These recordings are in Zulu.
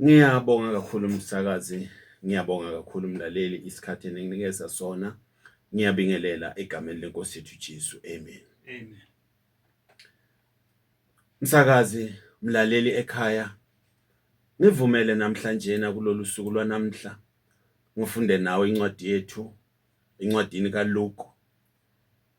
Ngiyabonga kakhulu msakazi, ngiyabonga kakhulu mlaleli isikhathi eninginikeza sona. Ngiyabingelela egameni lenkosi yethu Jesu. Amen. Amen. Msakazi, mlaleli ekhaya, ngivumele namhlanje na kulolu suku lwanamhla ngifunde nawe incwadi yethu incwadini kaLuke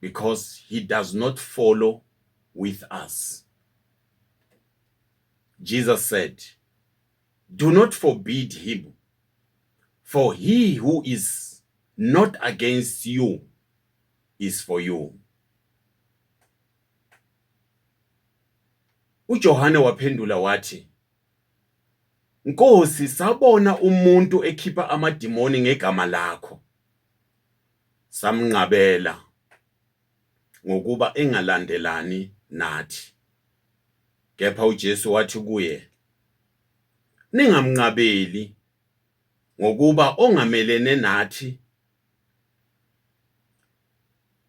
because he does not follow with us. Jesus said, Do not forbid him, for he who is not against you is for you. uJohane waphendula wathi Nkosi sabona umuntu ekhipha amadimoni ngegama lakho samnqabela ngokuba engalandelani nathi. Kepha uJesu wathi kuye, Ningamnqabeli ngokuba ongamelene nathi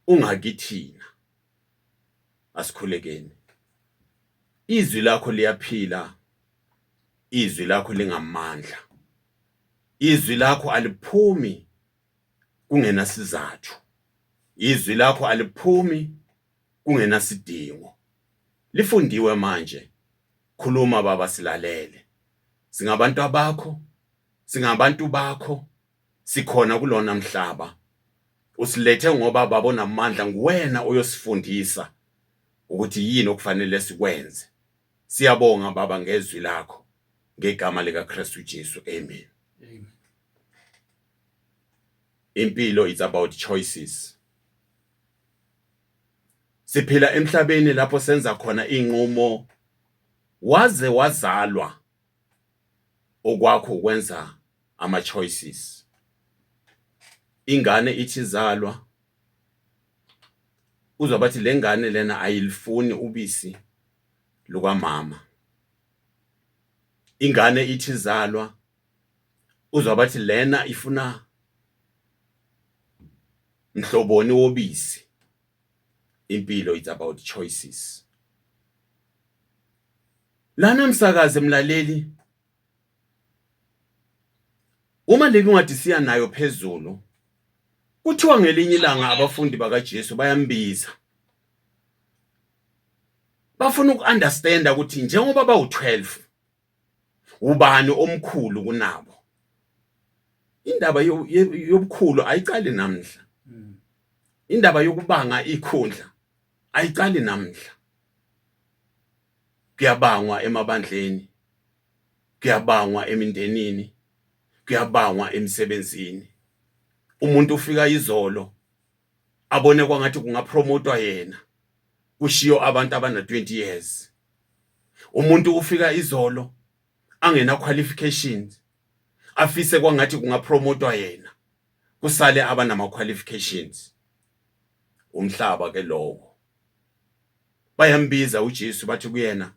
ungakithina. Asikhulekeni. Izwi lakho liyaphila. Izwi lakho lingamandla. Izwi lakho aliphumi kungenasizathu izwi lakho aliphumi kungenasidingo lifundiwe manje khuluma baba silalele singabantu abakho singabantu bakho sikhona kulona mhlaba usilethe ngoba babo namandla nguwena oyosifundisa ukuthi yini okufanele sikwenze siyabonga baba ngezwi lakho ngegama likaKristu Jesu amen amen impilo it's about choices siphila emhlabeni lapho senza khona inqumo waze wazalwa okwakho ukwenza ama choices ingane ithi zalwa uzwa bathi lengane lena ayilifuni ubisi lukamama ingane ithi zalwa uzwa bathi lena ifuna mhloboni wobisi impilo it's about choices lana msakaze mlaleli uma le ncwadi siya nayo phezulu kuthiwa ngelinye ilanga abafundi bakaJesu bayambiza bafuna uku-understanda ukuthi njengoba bawu-12 ubani omkhulu kunabo indaba yobukhulu ayiqali namhla hmm. indaba yokubanga ikhundla ayiqali namhla kuyabangwa emabandleni kuyabangwa emindenini kuyabangwa emsebenzini umuntu ufika izolo abone kwangathi kungapromotwa yena kushiyo abantu abana 20 years umuntu ufika izolo angena qualifications afise kwangathi kungapromotwa yena kusale abanama qualifications umhlaba ke lowo bayambiza uJesu bathi kuyena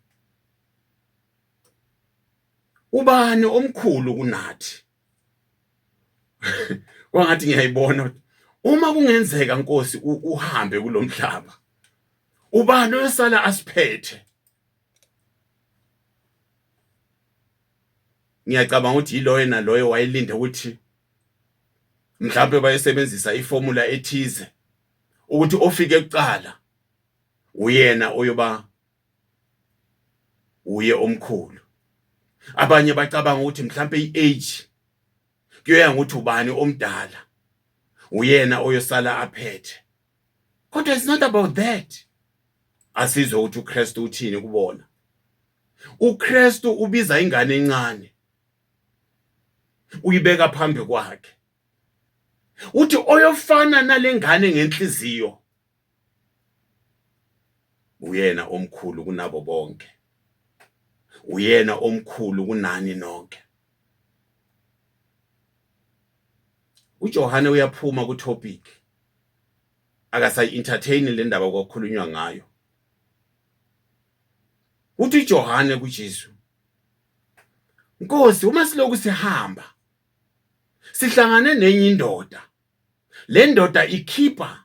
ubani omkhulu kunathi kwangathi ngiyayibona uma kungenzeka nkosi uhambe kulomhlaba ubani oyosala asiphethe ngiyacabanga ukuthi yiloyo naloyo wayelinde ukuthi mhlawumbe bayesebenzisa iformula ethize ukuthi ofike kuqala uyena oyoba uye omkhulu abanye bacabanga ukuthi mhlawumbe i-age kuyoya ngokuthi ubani omdala uyena oyosala aphethe kodwa it's not about that asizwe ukuthi uKristu uthini kubona uKristu ubiza ingane encane uyibeka phambi kwakhe uthi oyofana nalengane ngenhliziyo uyena omkhulu kunabo bonke uyena omkhulu kunani nonke uJohane uyaphuma ku topic akasayi entertain le ndaba kwakhulunywa ngayo uthi uJohane kuJesu Nkosi uma siloku sihamba sihlangane nenye indoda le ndoda ikhipha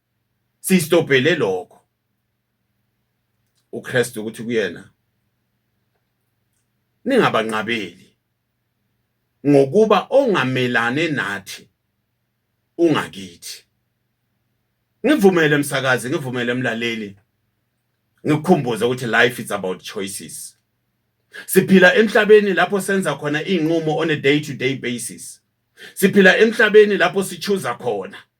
Siyistobhele lokho. uKristu ukuthi kuyena ningabanqabeli ngokuba ongamelane nathi ungakithi ngivumele msakazi ngivumele mlaleli ngikukhumbuze ukuthi life is about choices siphila emhlabeni lapho senza khona izinqumo on a day to day basis siphila emhlabeni lapho sichuza khona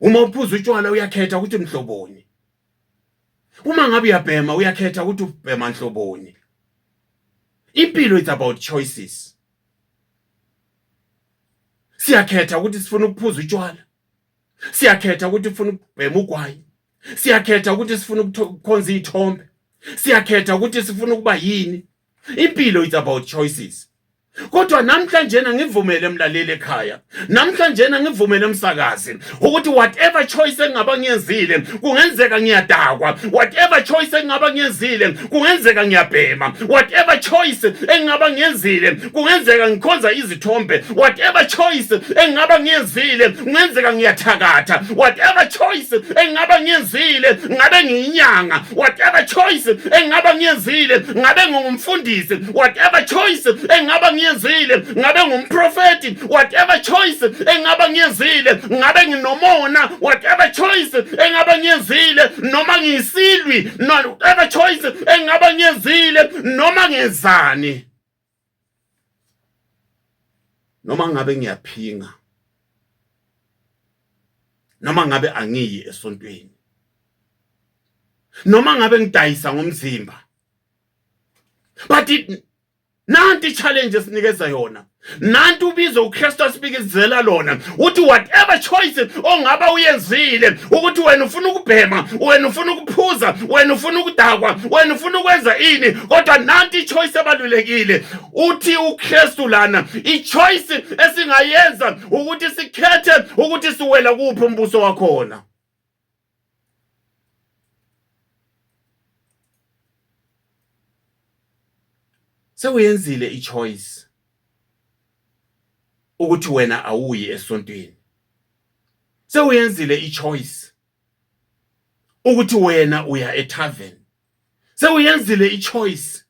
uma uphuza utshwala uyakhetha ukuthi mhloboni uma ngabe uyabhema uyakhetha ukuthi ubhema nhloboni impilo it's about choices siyakhetha ukuthi sifuna ukuphuza utshwala siyakhetha ukuthi sifuna ukubhema ugwayi siyakhetha ukuthi sifuna ukukhonza iy'thombe siyakhetha ukuthi sifuna ukuba yini impilo it's about choices kodwa namhlanjena ngivumele mlaleli ekhaya namhlanjena ngivumele umsakazi ukuthi whatever choice engaba ngiyenzile kungenzeka ngiyadakwa whatever choice engaba ngiyenzile kungenzeka ngiyabhema whatever choice engaba ngiyenzile kungenzeka ngikhonza izithombe whatever choice engaba ngiyenzile kungenzeka ngiyathakatha whatever choice engaba ngiyenzile ngabe ngiyinyanga whatever choice engaba ngiyenzile ngabe ngingumfundisi whatever choice engaba ngiyenzile ngabe ngumprofeti whatever choice engaba ngiyenzile ngabe nginomona whatever choice engaba ngiyenzile noma ngiyisilwi whatever choice engaba ngiyenzile noma ngezani noma ngabe ngiyaphinga noma ngabe angiyi esontweni noma ngabe ngidayisa ngomzimba but it nanti challenge esinikeza yona nanti ubizo uKristu asibikizela lona uthi whatever choice ongaba uyenzile ukuthi wena ufuna ukubhema wena ufuna ukuphuza wena ufuna ukudakwa wena ufuna ukwenza ini kodwa nanti ichoice ebalulekile uthi uKristu lana ichoice esingayenza ukuthi sikhethe ukuthi siwela kuphi umbuso wakhona sewuyenzile ichoice ukuthi wena awuyi esontweni sewuyenzile ichoice ukuthi wena uya etavern sewuyenzile ichoice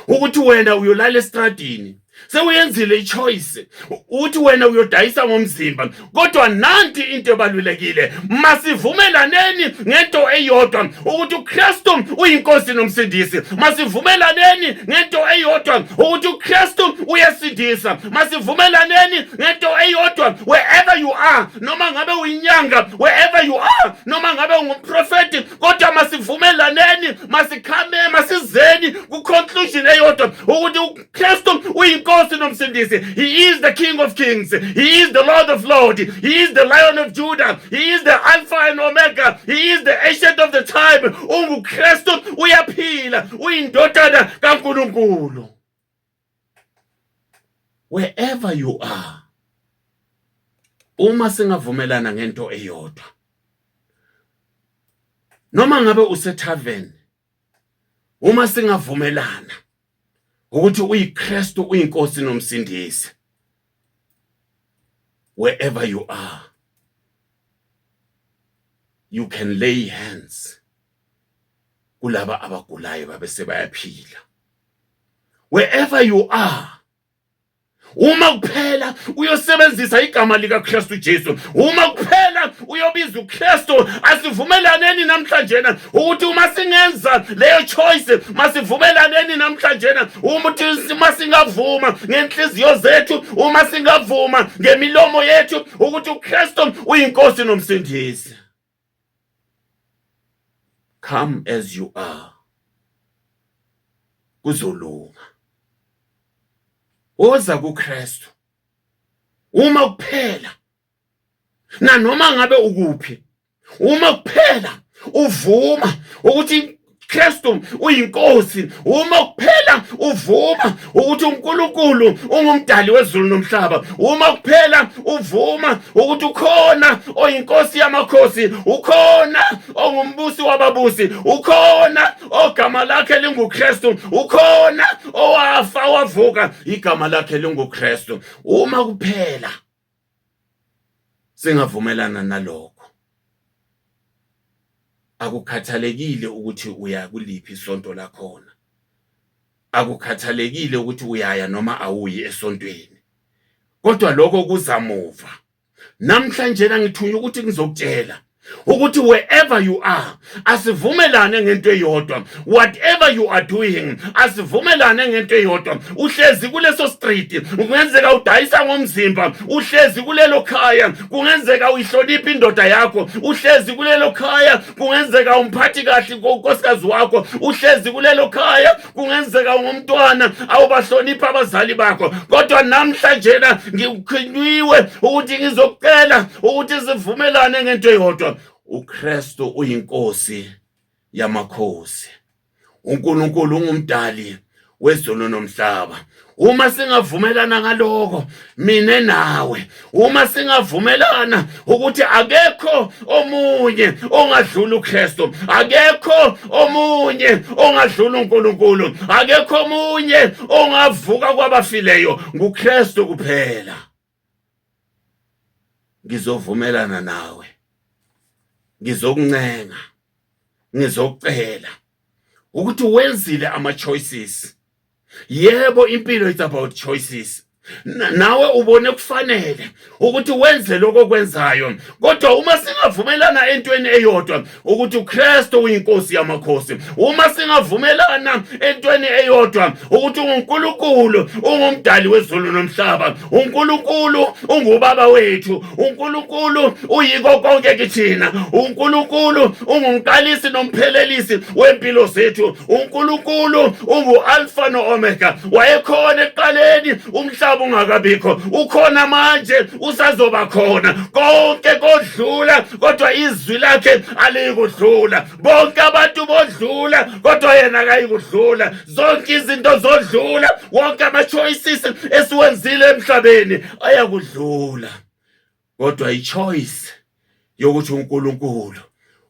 ukuthi wena uyolala estradini sewuyenzile ichoice uthi wena uyodayisa ngomzimba kodwa nanti into ebalulekile masivumelaneni ngento eyodwa ukuthi uKristu uyinkosi nomsindisi masivumelaneni ngento eyodwa ukuthi uKristu uyesindisa masivumelaneni ngento eyodwa wherever you are noma ngabe uyinyanga wherever you are noma ngabe ungumprofeti kodwa masivumelaneni masikhame masizeni kuconclusion eyodwa ukuthi uKristu uyinkosi nomsindisi he is the king of kings he is the lord of lord he is the lion of judah he is the alpha and omega he is the ancient of the time unguKristu uyaphila uyindodana kaNkulunkulu wherever you are uma singavumelana ngento eyodwa noma ngabe usethaveni uma singavumelana ukuthi uyiKristu uyinkosi nomsindisi wherever you are you can lay hands kulaba abagulayo babe sebayaphila wherever you are uma kuphela uyosebenzisa igama likaKristu Jesu uma kuphela uyobiza uKristu asivumelaneni namhlanje na ukuthi uma singenza leyo choice masivumelaneni namhlanje na ukuthi uma singavuma ngenhliziyo zethu uma singavuma ngemilomo yethu ukuthi uKristu uyinkosi nomsindisi come as you are kuzolunga woza kuKristu uma kuphela nanoma ngabe ukuphi uma kuphela uvuma ukuthi Kristu uyinkosi uma kuphela uvuma ukuthi uNkulunkulu ungumdali wezulu nomhlaba uma kuphela uvuma ukuthi ukhona oyinkosi yamakhosi ukhona ongumbusi wababusi ukhona ogama lakhe linguKristu ukhona owafa wavuka igama lakhe linguKristu uma kuphela Singavumelana nalokho. Akukhathalekile ukuthi uya kuliphi isonto lakhona. Akukhathalekile ukuthi uyaya noma awuyi esontweni. Kodwa lokho kuzamuva. Namhlanje ngithunywa ukuthi ngizokutshela ukuthi wherever you are asivumelane ngento eyodwa whatever you are doing asivumelane ngento eyodwa uhlezi kuleso street kungenzeka udayisa ngomzimba uhlezi kulelo khaya kungenzeka uyihlonipha indoda yakho uhlezi kulelo khaya kungenzeka umphathi kahle unkosikazi wakho uhlezi kulelo khaya kungenzeka ungumntwana awubahloniphi abazali bakho kodwa namhlanje na ngikukhiniwe ukuthi ngizokucela ukuthi sivumelane ngento eyodwa uKristu uyinkosi yamakhosi uNkulunkulu ungumdali wezulu nomhlaba uma singavumelana ngaloko mina nawe uma singavumelana ukuthi akekho omunye ongadlula uKristu akekho omunye ongadlula uNkulunkulu akekho omunye ongavuka kwabafileyo nguKristu kuphela ngizovumelana nawe ngizokuncenga ngizocela ukuthi wenzile ama choices yebo impilo it's about choices nawe ubone kufanele ukuthi wenze lokho kwenzayo kodwa uma singavumelana entweni eyodwa ukuthi uKristu uyinkosi yamakhosi uma singavumelana entweni eyodwa ukuthi uNkulunkulu ungumdali wezulu nomhlaba uNkulunkulu ungubaba wethu uNkulunkulu uyiko konke kithina uNkulunkulu ungumqalisi nomphelelisi wempilo zethu uNkulunkulu unguAlpha noOmega wayekhona ekuqaleni umhlaba ungakabikho ukhona manje usazoba khona konke kodlula kodwa izwi lakhe aliyikudlula bonke abantu bodlula kodwa yena akayikudlula zonke izinto zodlula wonke ama-choices esiwenzile emhlabeni ayakudlula kodwa i-choice yokuthi unkulunkulu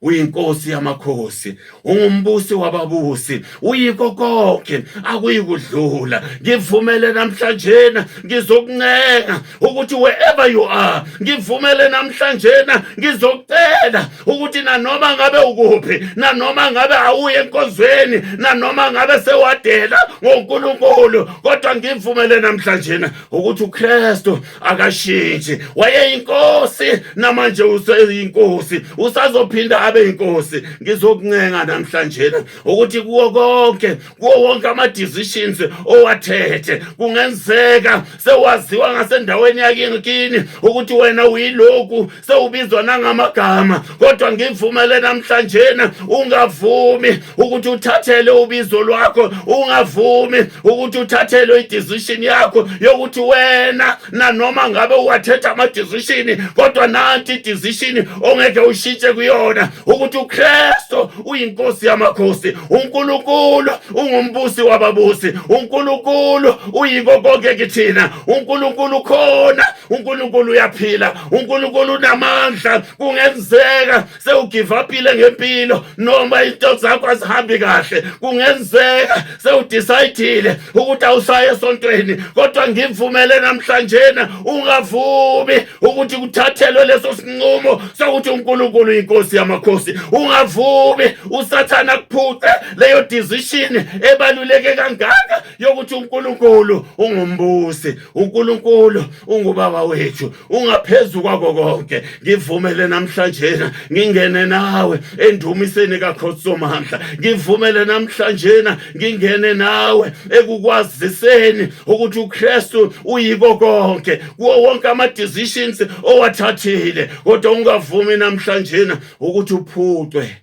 uyinkosi yamakhosi ungumbusi wababusi uyiko konke akuyikudlula ngivumele namhlanje na ngizokuncenga ukuthi wherever you are ngivumele namhlanje na ngizokucela ukuthi nanoma ngabe ukuphi nanoma ngabe awuye enkonzweni nanoma ngabe sewadela ngoNkulunkulu kodwa ngivumele namhlanje na ukuthi uKristu akashintshi wayeyinkosi namanje useyinkosi usazophinda abe inkosi ngizokuncenga namhlanje ukuthi kuwo konke kuwo wonke ama decisions owathethe kungenzeka sewaziwa ngasendaweni yakini ukuthi wena uyiloku sewubizwa nangamagama kodwa ngivumele namhlanjena ungavumi ukuthi uthathele ubizo lwakho ungavumi ukuthi uthathele idecision yakho yokuthi wena nanoma ngabe uwathetha amadecision kodwa nanti idecision ongeke ushintshe kuyona ukuthi uKristu uyinkosi yamakhosi uNkulunkulu ungumbusi wababusi uNkulunkulu uyiko konke kithina uNkulunkulu khona uNkulunkulu uyaphila uNkulunkulu unamandla kungenzeka sewugive upile ngempilo noma into zakho azihambi kahle kungenzeka sewudecide ukuthi awusaye esontweni kodwa ngivumele namhlanje na ungavumi ukuthi kuthathelwe leso sinqumo sokuthi uNkulunkulu inkosi yamakhosi ungavumi usathana kuphuce leyo decision ebaluleke kangaka yokuthi uNkulunkulu ungumbusi uNkulunkulu ungubaba wethu ungaphezulu kwako konke ngivumele namhlanje ngingene nawe endumiseni kaKhosomandla ngivumele namhlanje ngingene nawe ekukwaziseni ukuthi uKristu uyiko konke kuwo wonke ama decisions owathathile kodwa ungavumi namhlanje ukuthi uphucwe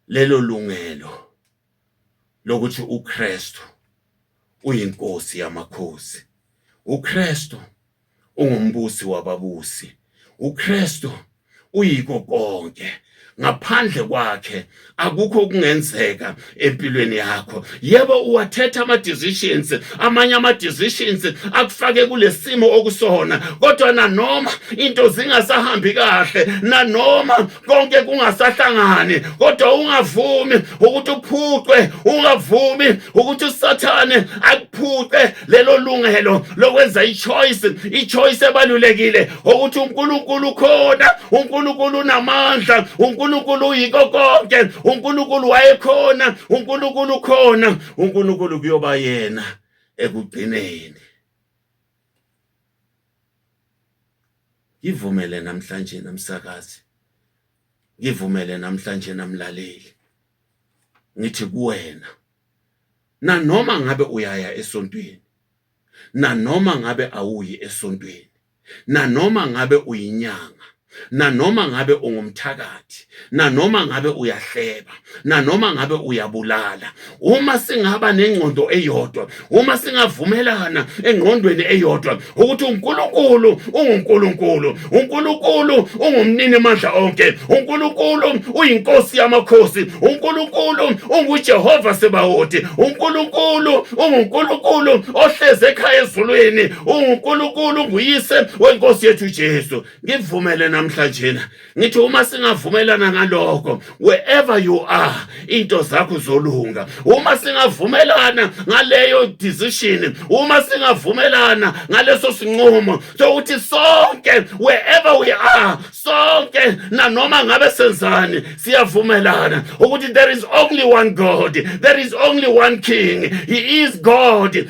lelo lungelo lokuthi uKristu uyinkosi yamakhosi uKristu ungumbusi wababusi uKristu uyiko konke ngaphandle kwakhe akukho kungenzeka empilweni yakho yebo uwathetha ama decisions amanye ama decisions akufake kulesimo okusona kodwa nanoma into zingasahambi kahle nanoma konke kungasahlangani kodwa ungavumi ukuthi uphuqwe ungavumi ukuthi usathane akuphuqe lelo lungelo lokwenza i choice i choice ebalulekile ukuthi uNkulunkulu ukhona uNkulunkulu unamandla uNkulunkulu uyiko konke uNkulunkulu wayekhona uNkulunkulu ukhona uNkulunkulu kuyoba yena ekugcineni ngivumele namhlanje namsakazi ngivumele namhlanje namlaleli ngithi kuwena nanoma ngabe uyaya esontweni nanoma ngabe awuyi esontweni, nanoma ngabe uyinyanga, nanoma ngabe ungumthakathi, nanoma ngabe uyahleba, nanoma ngabe uyabulala, uma singaba nengqondo eyodwa, uma singavumelana engqondweni eyodwa ukuthi uNkulunkulu unguNkulunkulu, uNkulunkulu ungumnini mandla onke uNkulunkulu uyinkosi yamakhosi uNkulunkulu unguJehova Sebawoti uNkulunkulu unguNkulunkulu ohleze ekhaya ezulwini unguNkulunkulu nguyise wenkosi yethu Jesu ngivumele namhlanje ngithi uma singavumelana ngaloko wherever you are into zakho zolunga uma singavumelana ngaleyo decision uma singavumelana ngaleso sinqumo sokuthi sonke wherever we are sonke nanoma ngabe senzani siyavumelana ukuthi there is only one god there is only one king he is god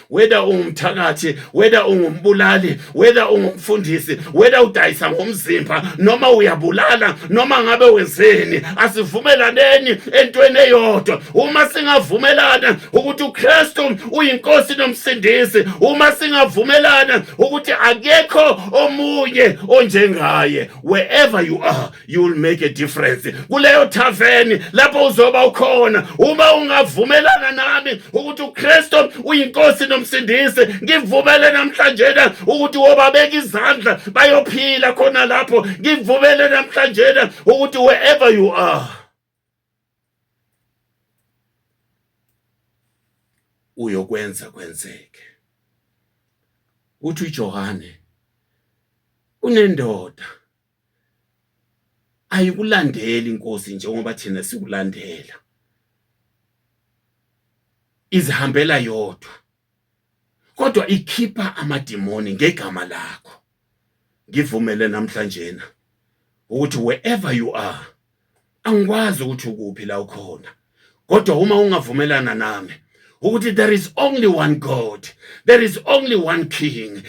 whether ungumthakathi whether ungumbulali whether ungumfundisi whether udayisa ngomzimba noma uyabulala noma ngabe wenzeni asivumelaneni entweni eyodwa uma singavumelana ukuthi uKristu uyinkosi nomsindisi uma singavumelana ukuthi akekho omunye onjengaye wherever you are you will make a difference kuleyo thaveni lapho uzoba ukhona uma ungavumelana nami ukuthi uKristu uyinkosi nomsindisi ngivumele namhlanje na ukuthi wobabeka izandla bayophila khona lapho ngivumele namhlanje na ukuthi wherever you are uyokwenza kwenzeke uthi uJohane kunendoda ayikulandeli inkosi njengoba thina sikulandela izihambela yodwa kodwa ikhipha amadimoni ngegama lakho ngivumele namhlanjena ukuthi wherever you are angikwazi ukuthi ukuphi la ukhona kodwa uma ungavumelana nami ukuthi there is only one god there is only one king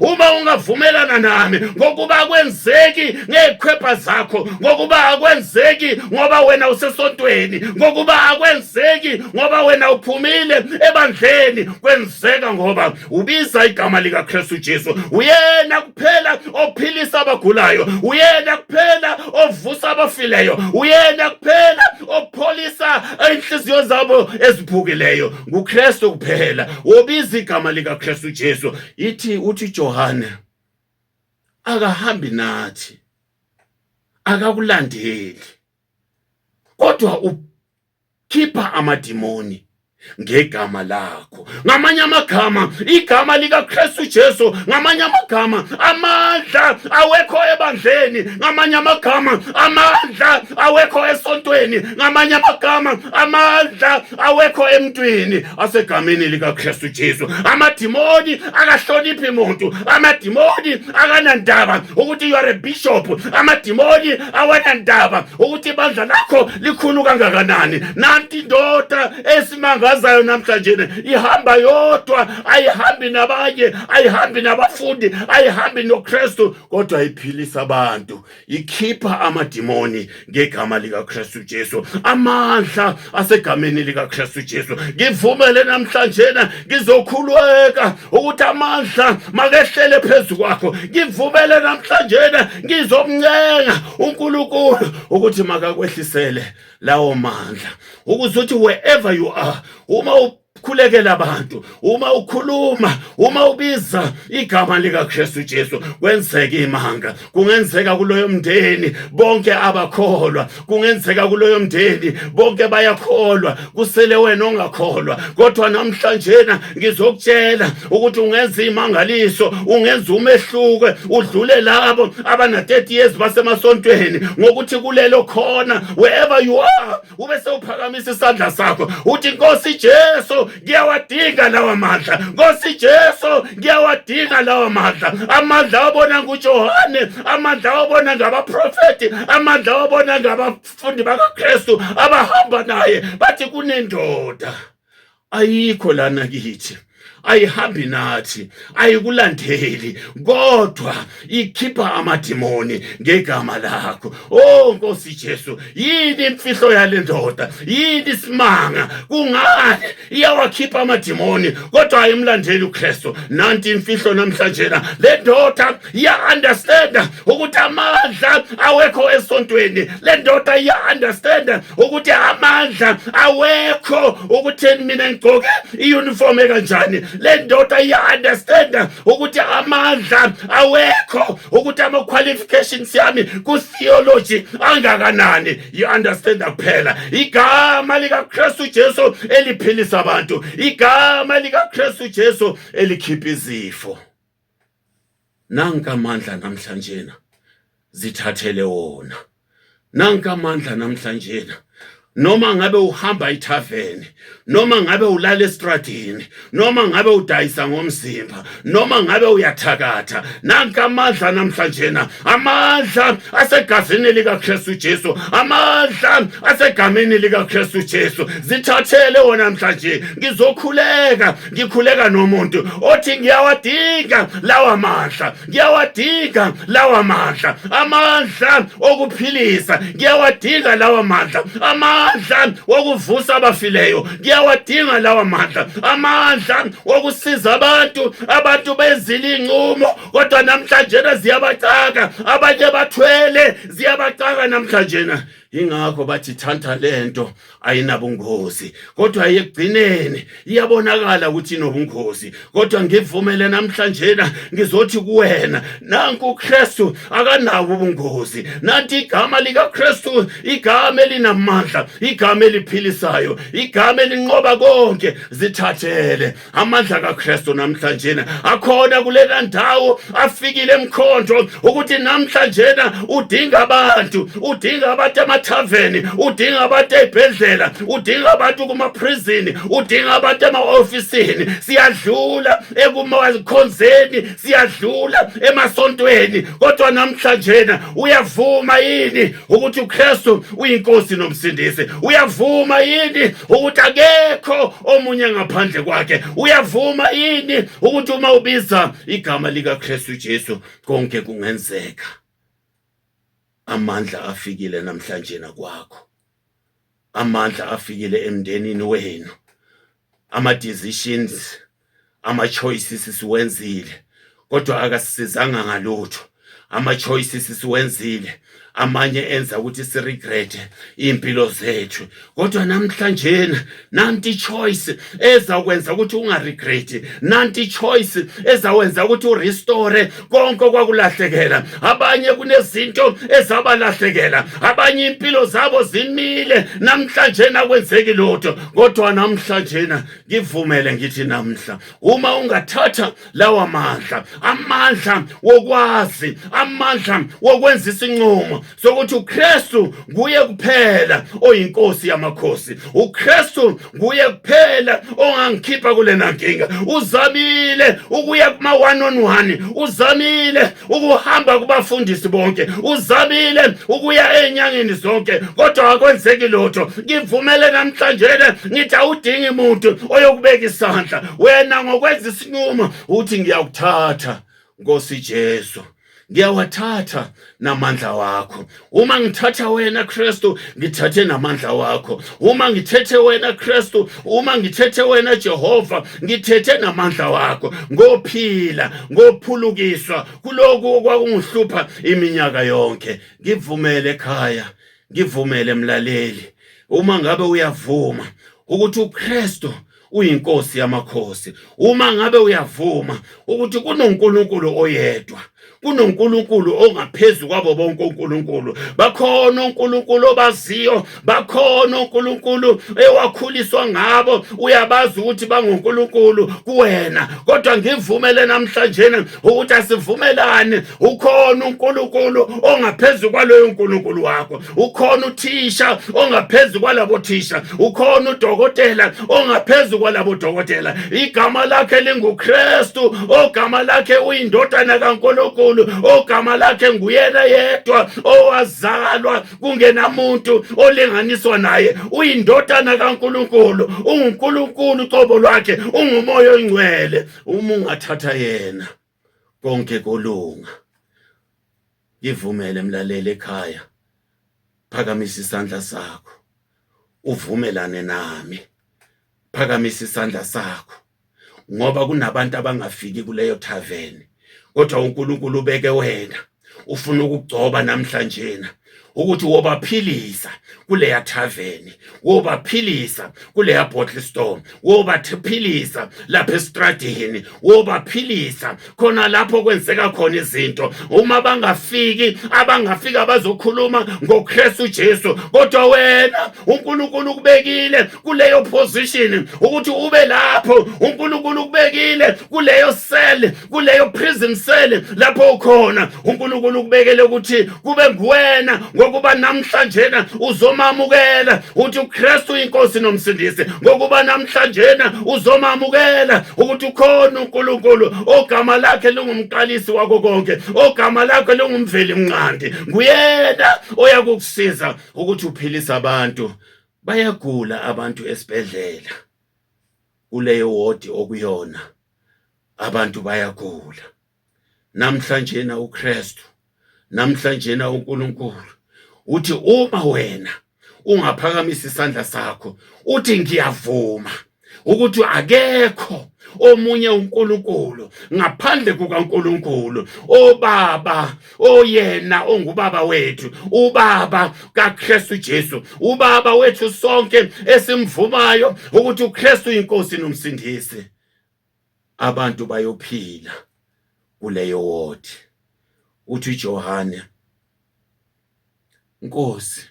uma ungavumelana nami ngokuba akwenzeki ngezikhwepha zakho ngokuba akwenzeki ngoba wena usesontweni ngokuba akwenzeki ngoba wena uphumile ebandleni kwenzeka ngoba ubiza igama likaKristu Jesu uyena kuphela ophilisa abagulayo uyena kuphela ovusa abafileyo uyena kuphela opholisa inhliziyo zabo eziphukileyo nguKristu kuphela wobiza igama likaKristu Jesu ithi uthi Johane akahambi nathi akakulandeli kodwa ukhipha amadimoni ngegama lakho ngamanye amagama igama likaKristu Jesu ngamanye amagama amandla awekho ebandleni ngamanye amagama amandla awekho esontweni ngamanye amagama amandla awekho emntwini asegameni likaKristu Jesu amadimoni akahloniphi muntu amadimoni akanandaba ukuthi you are a bishop amadimoni awanandaba ukuthi ibandla lakho likhulu kangakanani nanti indoda esimangazayo namhlanje ihamba yodwa ayihambi nabanye ayihambi nabafundi ayihambi noKristu kodwa iphilisa abantu ikhipha amadimoni ngegama likaKristu Jesu amandla asegameni likaKristu Jesu ngivumele namhlanje ngizokhulweka ukuthi amandla makehlele phezu kwakho ngivumele namhlanje ngizomncenga uNkulunkulu ukuthi makakwehlisele lawo mandla ukuze uthi wherever you are uma khulekela abantu uma ukhuluma uma ubiza igama likaKristu Jesu kwenzeka imanga kungenzeka kuloyo mndeni bonke abakholwa kungenzeka kuloyo mndeni bonke bayakholwa kusele wena ongakholwa kodwa namhlanje na ngizokutshela ukuthi ungenza imangaliso ungenza umehluko udlule labo abana 30 years basemasontweni ngokuthi kulelo khona wherever you are ube sewuphakamisa isandla sakho uthi nkosi Jesu ngiyawadinga lawa mandla nkosi Jesu ngiyawadinga lawa mandla amandla awabona nguJohane amandla awabona ngabaprofeti amandla awabona ngabafundi bakaKristu abahamba naye bathi kunendoda ayikho lana kithi ayihambi nathi ayikulandeli kodwa ikhipha amadimoni ngegama lakho oh nkosi Jesu yini imfihlo yale ndoda yini isimanga kungani iyawakhipha amadimoni kodwa ayimlandeli uKristu nanti imfihlo namhlanje le ndoda iya-understanda ukuthi amandla awekho esontweni le ndoda iya-understanda ukuthi amandla awekho ukutheni mina ngigqoke iyunifomu ekanjani le ndoda iya-understanda ukuthi amandla awekho ukuthi ama-qualifications yami ku-theology angakanani yi-understanda kuphela igama likakristu jesu eliphilisa abantu igama likakristu jesu elikhipha izifo nanka amandla namhlanje na zithathele wona nanka amandla namhlanje na noma ngabe uhamba ithaveni noma ngabe ulala estradini noma ngabe udayisa ngomzimba noma ngabe uyathakatha nanka amandla namhlanje na amandla asegazini likaKristu Jesu amandla asegameni likaKristu Jesu zithathele wona namhlanje ngizokhuleka ngikhuleka nomuntu othi ngiyawadinga lawa mandla ngiyawadinga lawa mandla amandla okuphilisa ngiyawadinga lawa mandla amandla okuvusa abafileyo ngiyawadinga lawa mandla amandla okusiza abantu abantu bezile inqumo kodwa namhlanje ziyabacaka abanye bathwele ziyabacaka namhlanje ingakho bathi thanta lento ayinabungozi kodwa yekugcineni iyabonakala ukuthi inobungozi kodwa ngivumele namhlanje na ngizothi kuwena nanku uKristu akanabo ubungozi nanti igama likaKristu igama elinamandla igama eliphilisayo igama elinqoba konke zithathele amandla kaKristu namhlanje akhona kulela ndawo afikile emkhonto ukuthi namhlanje udinga abantu udinga abantu emathaveni udinga abantu ezibhedlela udinga abantu kuma prison udinga abantu ema officeini siyadlula ekumakhonzeni siyadlula emasontweni kodwa namhlanje uyavuma yini ukuthi uKristu uyinkosi nomsindisi uyavuma yini ukuthi akekho omunye ngaphandle kwakhe uyavuma yini ukuthi uma ubiza igama likaKristu Jesu konke kungenzeka amandla afikile namhlanje nakwakho amandla afikile emndenini wenu ama decisions ama choices siwenzile kodwa akasisizanga ngalutho ama choices siwenzile amanye enza ukuthi si regret impilo zethu kodwa namhlanje nanti choice ezakwenza ukuthi unga regret nanti choice ezawenza ukuthi u restore konke kwakulahlekela abanye kunezinto ezabalahlekela abanye impilo zabo zimile namhlanje nakwenzeki lutho kodwa namhlanje ngivumele ngithi namhla uma ungathatha lawa mandla amandla wokwazi amandla wokwenza isinqumo sokuthi uKristu nguye kuphela oyinkosi yamakhosi uKristu nguye kuphela ongangikhipha kulena nkinga uzamile ukuya kuma one on one uzamile ukuhamba kubafundisi bonke uzamile ukuya enyangeni zonke kodwa akwenzeki lutho ngivumele namhlanje le ngithi awudingi muntu oyokubeka isandla wena ngokwenza isinqumo uthi ngiyakuthatha nkosi Jesu ngiyawathatha namandla wakho uma ngithatha wena Kristu ngithathe namandla wakho uma ngithethe wena Kristu uma ngithethe wena Jehova ngithethe namandla wakho ngophila ngophulukiswa kuloku okwakungihlupha iminyaka yonke ngivumele ekhaya ngivumele mlaleli uma ngabe uyavuma ukuthi uKristu uyinkosi yamakhosi uma ngabe uyavuma ukuthi kunoNkulunkulu oyedwa kunoNkulunkulu ongaphezulu kwabo bonke uNkulunkulu bakhona uNkulunkulu obaziyo bakhona uNkulunkulu ewakhuliswa ngabo uyabazi ukuthi banguNkulunkulu kuwena kodwa ngivumele namhlanje ukuthi asivumelane ukhona uNkulunkulu ongaphezulu kwaloyo uNkulunkulu wakho ukhona uthisha ongaphezu kwalabo thisha ukhona udokotela ongaphezu kwalabo dokotela igama lakhe lingukristu ogama lakhe uyindodana kankulunkulu ogama lakhe nguyena yedwa owazalwa kungenamuntu olinganiswa naye uyindodana kankulunkulu ungunkulunkulu ucobo lwakhe ungumoya ongcwele uma ungathatha yena konke kolunga ngivumele mlaleli ekhaya phakamisa isandla sakho uvumelane nami phakamisa isandla sakho ngoba kunabantu abangafiki kuleyo tavern kodwa uNkulunkulu ubeke wena ufuna ukugcoba namhlanje na ukuthi wobaphilisa kuleya tavern wobaphilisa kuleya bottle store wobaphilisa lapha estradini wobaphilisa khona lapho kwenzeka khona izinto uma bangafiki abangafika bazokhuluma ngoKristu Jesu kodwa wena uNkulunkulu ukubekile kuleyo position ukuthi ube lapho uNkulunkulu ukubekile kuleyo cell kuleyo prison cell lapho ukhona uNkulunkulu ukubekele ukuthi kube nguwena ngokuba namhlanje na uzomamukela uthi uKristu uyinkosi nomsindisi ngokuba namhlanje na uzomamukela ukuthi ukhona uNkulunkulu ogama lakhe lingumqalisi wako konke ogama lakhe lingumveli mnqandi nguyena oyakukusiza ukuthi uphilise abantu bayagula abantu esibhedlela kuleyo wodi okuyona abantu bayagula namhlanje na uKristu namhlanje na uNkulunkulu uthi uma wena ungaphakamisa isandla sakho uthi ngiyavuma ukuthi akekho omunye uNkulunkulu ngaphandle kukaNkulunkulu obaba oyena ongubaba wethu ubaba kaKristu Jesu ubaba wethu sonke esimvumayo ukuthi uKristu inkosi nomsindisi abantu bayophila kuleyo wodi uthi uJohane Nkosi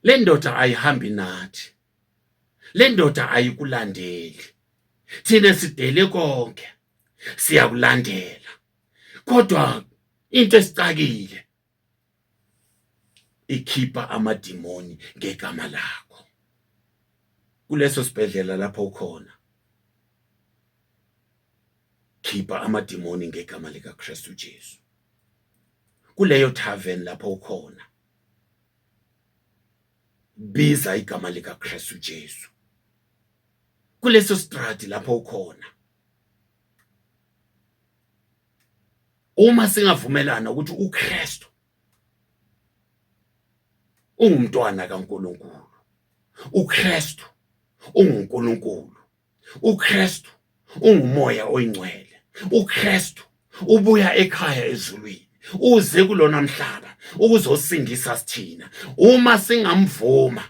le ndoda ayihambi nathi le ndoda ayikulandeli thina sidele konke siyakulandela kodwa into esicakile ikhipha amadimoni ngegama lakho kuleso sibhedlela lapho ukhona khipha amadimoni ngegama likaKristu Jesu kuleyo tavern lapho ukhona biza igama likaKristu Jesu kuleso strati lapho ukhona uma singavumelana ukuthi uKristu ungumntwana kaNkuluNkulu uKristu unguNkuluNkulu uKristu ungumoya oyingcwele uKristu ubuya ekhaya ezulwini uze kulona mhlaba ukuzosindisa sithina uma singamvuma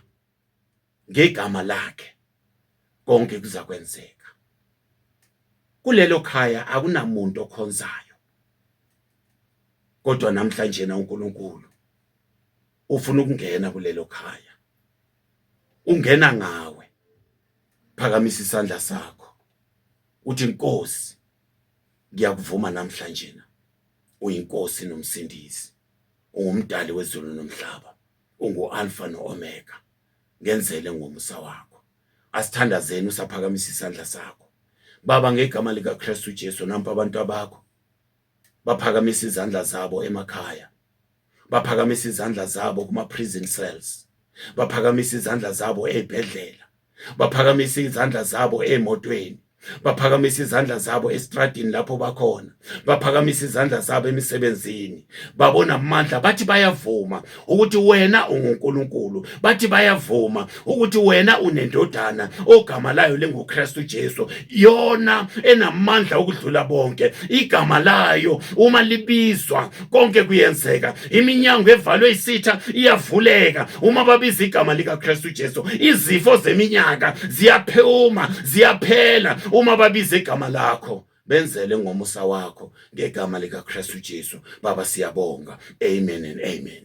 ngegama lakhe konke kuzakwenzeka kulelo khaya akunamuntu okhonzayo kodwa namhlanje na uNkulunkulu ufuna ukungena kulelo khaya ungena ngawe phakamisa isandla sakho uthi inkosi ngiyakuvuma namhlanje na uyinkosi nomsindisi ungumdali wezulu nomhlaba ungu-alfa no-omega ngenzele ngomusa wakho asithandazeni usaphakamisa isandla sakho baba ngegama likakristu jesu nampa abantu abakho baphakamisa izandla zabo emakhaya baphakamisa izandla zabo kuma-prison cells baphakamisa izandla zabo ey'bhedlela baphakamisa izandla zabo emotweni baphakamisa izandla zabo estradini lapho bakhona baphakamisa izandla zabo emisebenzini babona amandla bathi bayavuma ukuthi wena unguNkulunkulu bathi bayavuma ukuthi wena unendodana ogama layo linguKristu Jesu yona enamandla okudlula bonke igama layo uma libizwa konke kuyenzeka iminyango evalwe isitha iyavuleka uma babiza igama likaKristu Jesu izifo zeminyaka ziyaphuma ziyaphela uma babiza igama lakho benzele ngomusa wakho ngegama likaKristu Jesu baba siyabonga amen and amen